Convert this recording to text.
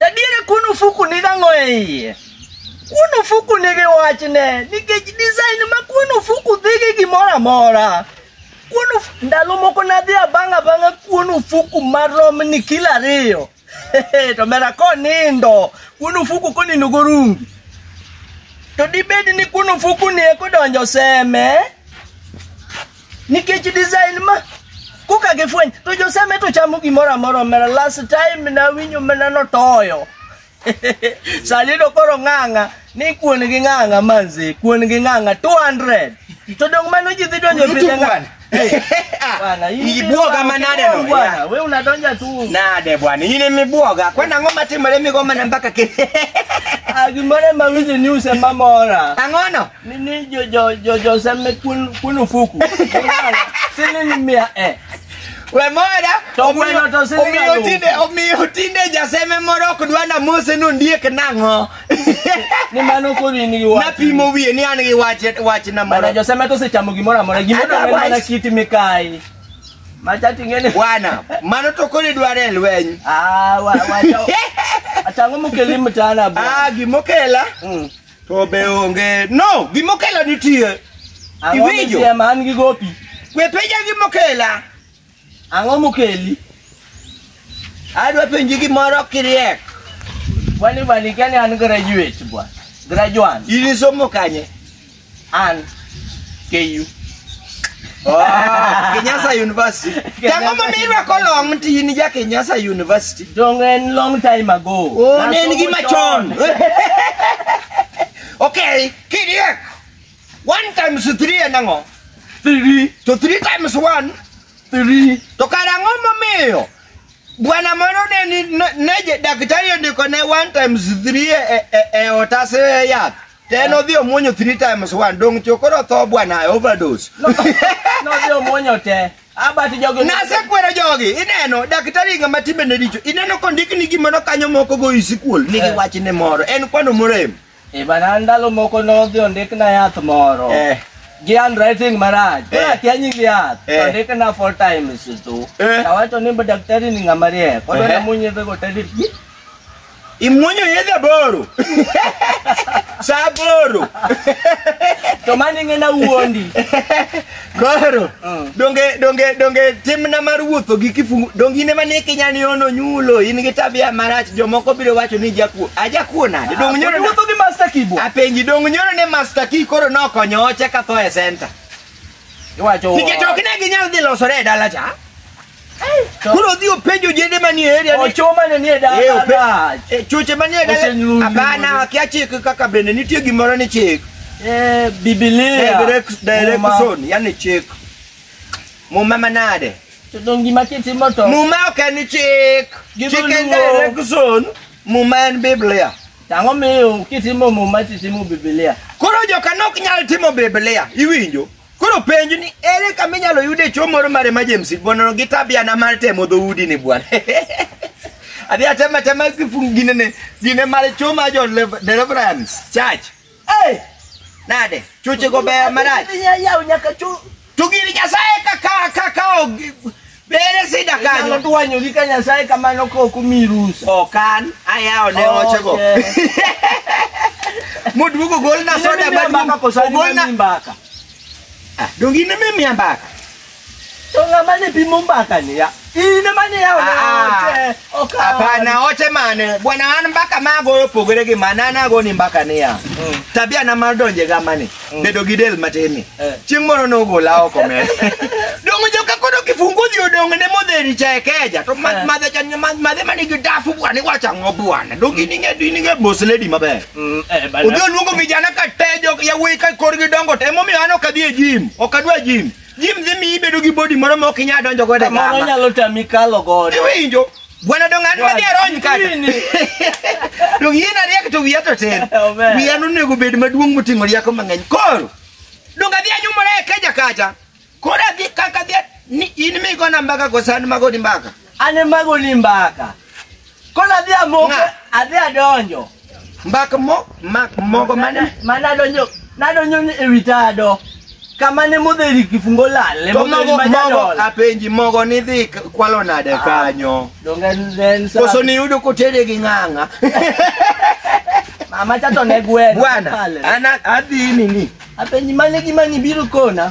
Adiere kuon ofuku ni dang'o e iye. Kuon ofuku nigi wachne nikech design ma kuon ofuku dhi gi gimoro amora. Kuon ofuku ndalo moko nadhi abang' abang'a kuon ofuku marom ni kilo ariyo. to mera konindo kuon ofuku konindo gorungi. To dibed ni kuon ofuku ni ekodonjo seme. nikech design ma koka gifweny to joseme to chamo gimoro amora omera last time nawinjo mana notoyo salido koro ng'ang'a ni kuon gi ng'ang'a manzi kuon gi ng'ang'a 200 to dong mano ji dhi donjo Yutu pidhe ng'a- bwana. Eh, Ah, bwana, in ibwoga biro- manade no, bwana, yeah. we unadonja tu nade bwana in emibwoga kwani ang'o matimore migomana mpaka kiny Ah, gimoro ema winjo ni use mamora ang'ono Ni ni jo jo jo jo seme kun kun ufuku. Sini ni mia eh. We moda, To omiyo- gweno to sini omiyo galufu. tinde omiyo tinde jaseme moro ok dwa na mose no ndiek nang'o. Ni mano koro in gi wach. Napimo wiye ni an gi wach wach na Bana moro. jo seme to sechamo gimoro amora. Gimoro Otherwise- amora mana kiti mikai. Macha tingene. Bwana, mano to kodi dware e lweny. Ah, wa wa. Atango mukeli mtana bwana. Ah, gimokela Mm. To be onge. No, gimokela nitie. Ang'o Iwinjo? misia ma an gi gopi? We penja gimokela. Ang'o mokeli? Adwa penji gimoro kiriek. Kwani bani kani an graduate bwa. Graduate. Ilisomo kanye? An. KU. Kenyasa University. Tango ma mi rwako long ti ni ja Kenyasa University. Dong en long time ago. Oh, ne en gima chon. Okay, kidiek. One times three en ang'o? Three, To three times one three. to kara ang'o momiyo bwana moro ne ni- ne- ne je- daktari ondiko ne one times three e, e, e otase yath Then odhi omuonyo three times one. Dong' chokoro tho bwana overdose. Nodhi omuonyo te. Abati jogi. Nasekwero jogi. Ineno daktari ng'ama timbe ne richo. Ineno kondik ni gimoro kanyo moko go isikuol. Nigi eh. wach ne moro. En kwano morem. E eh, bana ndalo moko nodhi ondik na yath moro. Eh. Gi handwriting maraj. Eh. Kora kia nying yath. Eh. Ondik na four times tu. Eh. Tawacho ni daktari ni ng'ama riek. Kodo eh. na munyi be go tedit. Imuonyo yedhe aboro. Sa aboro. To mano ing'e na wuondi. Koro Mm. donge donge donge timna mar wuotho gi kifungu donge in ema ne kinya ni ono nyulo in gi tabia marach jomoko biro wacho ni jakuo ajakuo nade donge nyoro ne- Wuotho gi master kibwa. apenji donge nyoro ne master key koro nokonyo oche ka tho e center Iwacho. nikech ok ne ginyal dhi losore e dala cha Koro dhi openjo ojende manie area ni Ochoma ne nie Eh, dala. ope- dach. eh, chuche manie dala. Osenyuol Hapana, nyuol. wakia chik kaka bende nitie gimoro ni chik. Eh, Biblia. Direct Muma. direction, yani chik. Muma manade. To dong gima kitimo to. Muma ok en chik. Gima Chik en luwo. direction. Muma en Biblia. Tang'o miyo kitimo muma titimo Biblia. Koro joka nok nyal timo Biblia. Iwinjo? Koro penj ni ere kama inyalo yude chuo moro mar emergency bwana gi tabiana mar temo dhoudi ni bwana. Adhi atema tema kifungu gine ne gine mar chuo ma jo lev- deliverance church. Eh! Nade? Chuche go ber marach. Yaw nyaka chu. To gini Nyasaye kaka kaka Bere sida Inyalo kanyo. dwanyori ka Nyasaye kamano ka ok omiyi rusa. Okan ayawo ne ochego. Okay. Moduogo gol na soda Inemiya mbaka maduong'. koso Ogol inemiya na mbaka. Ah, dongi ne mimi ambaka. To ng'ama ne pimo mbakani ya? In ema ne yawo ne Ah, ah. ote. Ok an. Hapana, oche mane bwana, an mbaka ma agoyo opogore gi mane an agoni mbaka niya Mm. tabia na mar donje gamani bedo gi del matinni Eh. chieng' moro nogola oko men dongo joka kodo kifungu dhi odongo ne modheri cha ekeja to ma- Eh. madhe chan- ma- madhe manigi dafu bwana iwacho ang'o bwana donge in ing'e- in ing'e mos lady maber Mm, eh, bana. udhi oluongo vijana ka tejo yawuoyi ka korgi dongo to emomiyo an ok adhi e jim ok adwa jim Jim dhi miyi bedo gi bodi moro ma ok inyal donjo godo e Kamoro kama. nyalo tami kalo godo. Iwinjo? Gweno dong' an madhi arony kata. Ini. Dong' yien ariek to wiya to tin. Amen. Wiya nonego bed maduong' moting'o rieko mang'eny. Koro, dong' adhi anyumora e keja kacha. Koro adhi kaka adhi ni in migona mbaka kosan magoni mbaka. An emago ni mbaka. Koro adhi amoko, Ng'a? adhi adonjo. Mbak mo, mak mogo mane? Mana adonjo, nadonjo ni ewi tado. Kama ne modheri kifungo lal, To emodheri mogo, mogo, majadol. apenji mogo ni dhi k- kwalo nade Ah. kanyo? Donge en- en sa- Koso niyudo kotede gi ng'ang'a? Mama chato ne gweno. Bwana, Pale. ana adhi nini? Apenji mane gima nibiro kona?